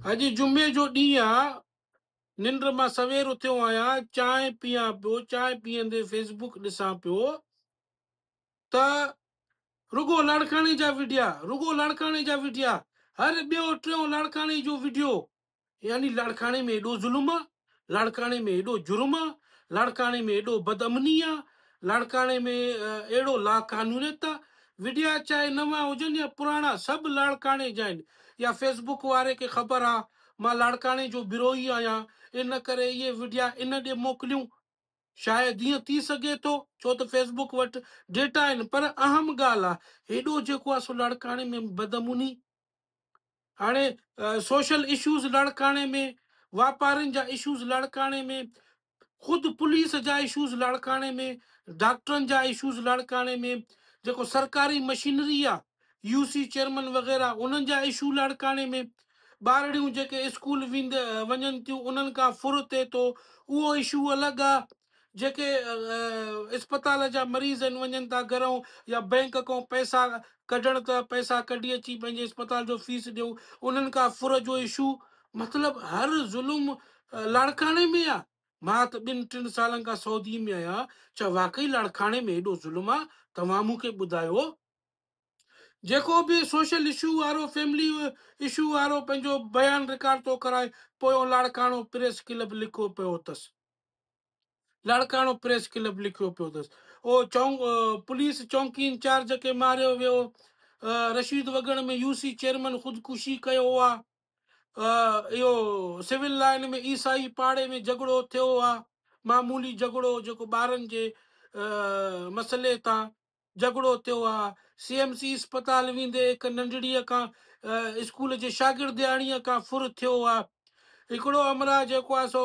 اڄ جمعي جو ڏينهن آ، ننڊ مان سوير اٿيو آهيان، چانهه پيان پيو، چانهه پيئندي فيسبوڪ ڏسان پيو ته رڳو لاڙڪاڻي جا وڊيا، رڳو لاڙڪاڻي جا وڊيا، هر ٻيو ٽيون لاڙڪاڻي جو وڊيو، يعني لاڙڪاڻي ۾ ايڏو ظلم آ، لاڙڪاڻي ۾ ايڏو جرم آ، لاڙڪاڻي ۾ ايڏو بد امني آ، لاڙڪاڻي ۾ اهڙو لاقانونيت آ، وڊيا چاهي نوان هجن يا پراڻا سڀ لاڙڪاڻي جا آهن يا فيسبوڪ واري کي خبر آ مان لاڙڪاڻي جو بروهي آهيان ان ڪري اهي وڊيا ان ڏي موڪليون شايد ائين ٿي سگهي ٿو ڇو ته فيسبوڪ وٽ ڊيٽا آهن پر اهم ڳالهه آ هيڏو جيڪو آ سو لاڙڪاڻي ۾ بد امني هاڻي سوشل اشوز لاڙڪاڻي ۾ واپارين جا اشوز لاڙڪاڻي ۾ خود پوليس جا اشوز لاڙڪاڻي ۾ ڊاڪٽرن جا اشوز لاڙڪاڻي ۾ جيڪو سرڪاري مشينري آ يو سي چيئرمن وغيرا انهن جا اشو لاڙڪاڻي ۾ ٻارڙيون جيڪي اسڪول ويند وڃن ٿيون انهن کان ڦر ٿئي ٿو اهو اشو الڳ آ جيڪي اسپتال جا مريض آهن وڃن ٿا گهرئون يا بئنڪ کئون پئسا ڪڍڻ ته پئسا ڪڍي اچي پنهنجي اسپتال جو فيس ڏيئون انهن کان ڦر جو اشو مطلب هر ظلم لاڙڪاڻي ۾ آهي مان ته ٻن ٽن سالن کان سعودي ۾ آهيان ڇا واقعي لاڙڪاڻي ۾ ايڏو ظلم آهي توهان مون کي ٻڌايو جيڪو به سوشل اشو وارو فيملي اشو وارو پنهنجو بيان رڪارڊ ٿو ڪرائي پويون لاڙڪاڻو پريس ڪلب لکو پيو اٿس لاڙڪاڻو پريس ڪلب لکيو پيو اٿس او چون پوليس چونڪي انچارج کي ماريو ويو Rashid Wagan ۾ U C chairman خودڪشي ڪيو هو اهو سول لائن ۾ عيسائي پاڙي ۾ جهڳڙو ٿيو هو معمولي جهڳڙو جيڪو ٻارن جي مسئلي تان جهڳڙو ٿيو آهي، سي ايم سي اسپتال ويندي هڪ ننڍڙيء کان اسڪول جي شاگردياڻيء کان ڦر ٿيو آهي، هڪڙو همراهه جيڪو آهي سو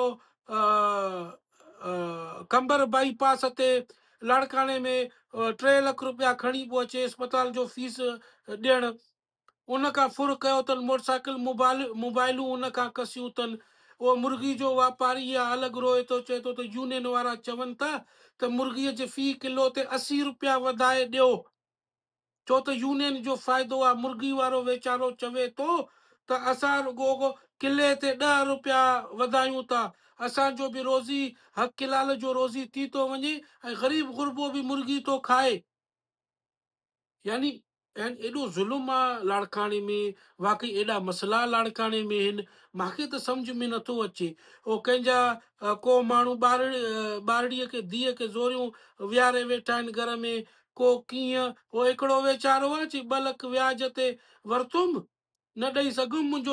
قمبر بائي پاس تي لاڙڪاڻي ۾ ٽي لک رپيا کڻي پيو اچي اسپتال جو فيس ڏيڻ، ان کان ڦر ڪيو تن موٽرسائيڪل موبائلون ان کان کسيون تن. اهو مرغي جو واپاري اها الڳ روئي ٿو چئي ٿو ته يونين وارا چون ٿا ته مرغي جي في ڪلو تي اسي روپيا وڌائي ڏيو ڇو ته يونين جو فائدو آهي مرغي وارو ويچارو چوي ٿو ته اسان رڳو ڪلي تي ڏهه روپيا وڌايون ٿا اسان جو به روزي حق حلال جو روزي ٿي ٿو وڃي ۽ غريب غربو به مرغي ٿو کائي. يعني يعني ايڏو ظلم آ لاڙڪاڻي ۾ واقعي ايڏا مسئلا لاڙڪاڻي ۾ هن ماکي ته سمجهه ۾ نٿو اچي او ڪنهن جا ڪو ماڻهو ٻارڙي ٻارڙي کي ڌيء کي زوريون ويهاري ويٺا آهن گهر ۾ ڪو ڪيئن او هڪڙو ويچارو آ چي ٻه لک وياج تي ورتوم نه ڏئي سگهيم منهنجو